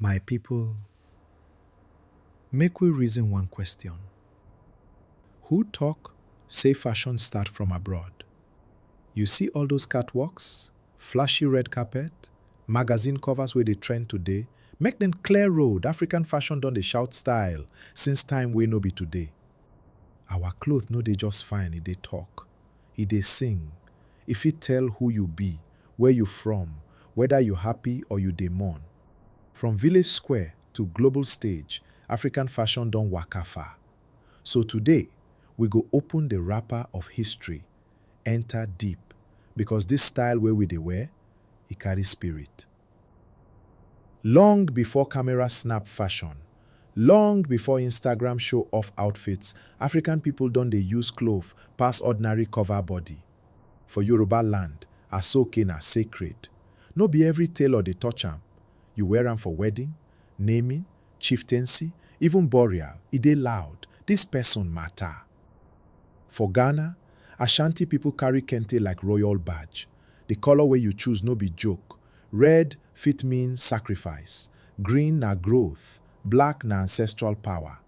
My people, make we reason one question, who talk say fashion start from abroad? You see all those catwalks, flashy red carpet, magazine covers wey dey trend today, make dem clear road, African fashion don dey shout style since time wey no be today. Our cloth no dey just fine, e dey talk. I dey sing, i fit tell who you be, where you from, weda you happy or you dey mourn. From village square to global stage, African fashion don waka far. So today, we go open the wrapper of history, enter deep, because this style wey we dey wear, e carry spirit. Long before camera snap fashion, long before Instagram show off outfits, African people don dey use cloth pass ordinary cover body. For Yoruba land, asoke na sacred. No be every tailor dey touch am. You wear am for wedding, naming, chieftaincy, even burial, e dey loud, this person matter. For Ghana, Ashanti people carry kente like royal badge. The colour wey you choose no be joke, red fit mean sacrifice, green na growth, black na ancestral power.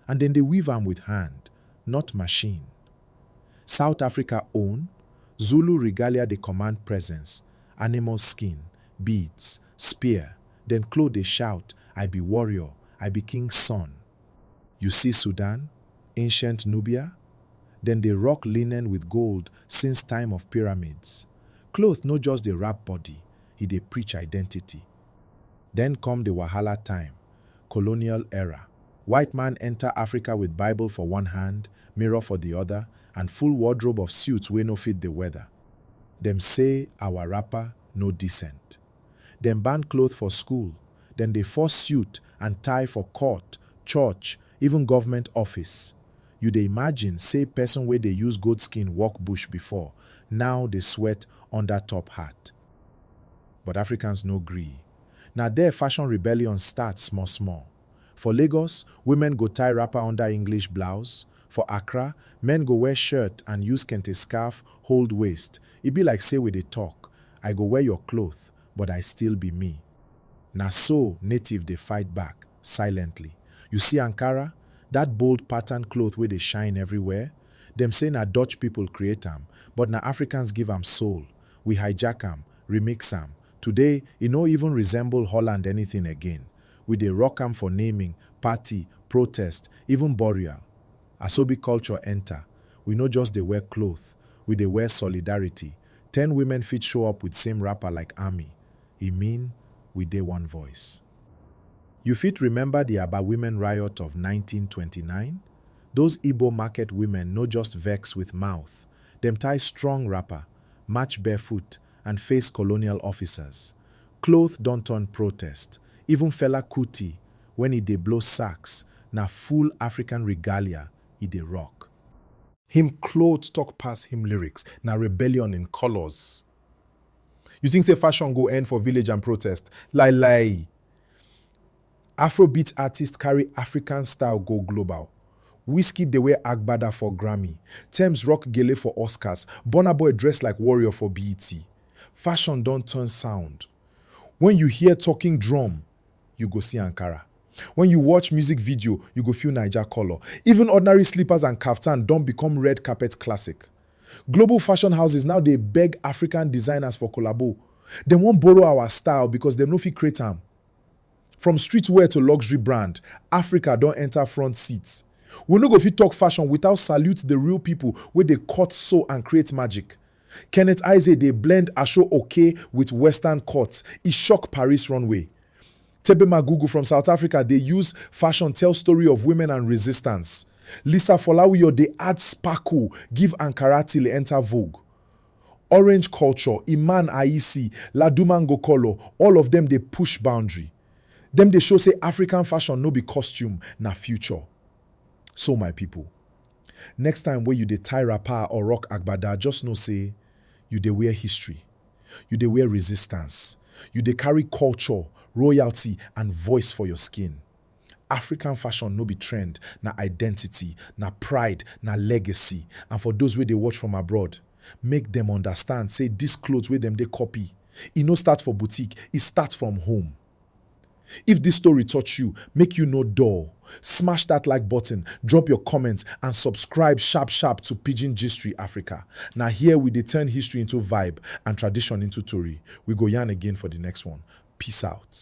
And dem dey weave am with hand, not machine. South Africa own, Zulu regalia dey command presence, animal skin, beads, spear, then cloth dey shout, I be warrior, I be king's son. You see Sudan, ancient Nubia? Dem dey rock linen with gold since time of pyramids. Cloth no just dey wrap body, e dey preach identity. Then come the wahala time, colonial era. White man enter Africa with Bible for one hand, mirror for the other, and full wardrobe of suits wey no fit the weather. Dem say our wrapper no decent. Dem ban cloth for school, dem dey force suit and tie for court, church, even government office. You dey imagine say person wey dey use goat skin walk bush before now dey sweat under top hat. But Africans no gree. Na there fashion rebellion start small small. For Lagos, women go tie wrapper under English blouse, for Accra, men go wear shirt and use kente scarf hold waist, e be like say we dey talk, I go wear your cloth, but I still be me. Na so native dey fight back, silently. You see Ankara, that bold pattern cloth wey dey shine everywhere? Dem say na Dutch people create am, but na Africans give am soul, we hijack am, remix am, today e no even resemble Holland anything again, We dey rock am for naming, party, protest, even burial. Asobi culture enta. We no just dey wear cloth, we dey wear solidarity. Ten women fit show up with same wrapper like army. E mean we dey one voice. You fit remember di Aba women riot of nineteen twenty nine? Those Igbo market women no just vex with mouth, dem tie strong wrapper, march barefoot, and face colonial officers. Cloth don turn protest, even Fela Kuti when e dey blow sax na full African regalia e dey rock. Him cloth talk pass him lyrics, na rebellion in colours. You think say fashion go end for village and protest? Lai lai! Afrobeat artist carry African style go global, Wizkid dey wear agbada for Grammy, Tems rock gele for Oscars, Burna Boy dress like warrior for BET. Fashion don turn sound. When you hear talking drum, you go see Ankara. When you watch music video, you go feel Naija colour. Even ordinary slippers and kaftan don become red carpet classic. Global fashion houses now dey beg African designers for collabo. Dem wan borrow our style because dem no fit create am. From streetwear to luxury brand, Africa don enter front seat. We no go fit talk fashion without salute the real people wey dey cut, sew and create magic. Kenneth Ize dey blend Aso Oke with western cut, e shock Paris runway. Tebe Magugu from South Africa dey use fashion tell story of women and resistance. Lisa Folawiyo dey add sparkle give Ankara till e enter Vogue. Orange Culture, Iman Ayisi, Ladumango Color, all of dem dey push boundary. Dem dey show say African fashion no be costume, na future. So my people, next time wey you dey tie wrapper or rock agbada, just know say you dey wear history, you dey wear resistance, you dey carry culture, royalty and voice for your skin. African fashion no be trend, na identity, na pride, na legacy and for those wey dey watch from abroad, make dem understand say this cloth wey dem dey copy, e no start for boutique, e start from home. If this story touch you, make you no dull, smash that like button, drop your comments and subscribe sharp sharp to Pidgin Gistry Africa. Na here we dey turn history into vibe and tradition into tori. We go yarn again for the next one. Peace out.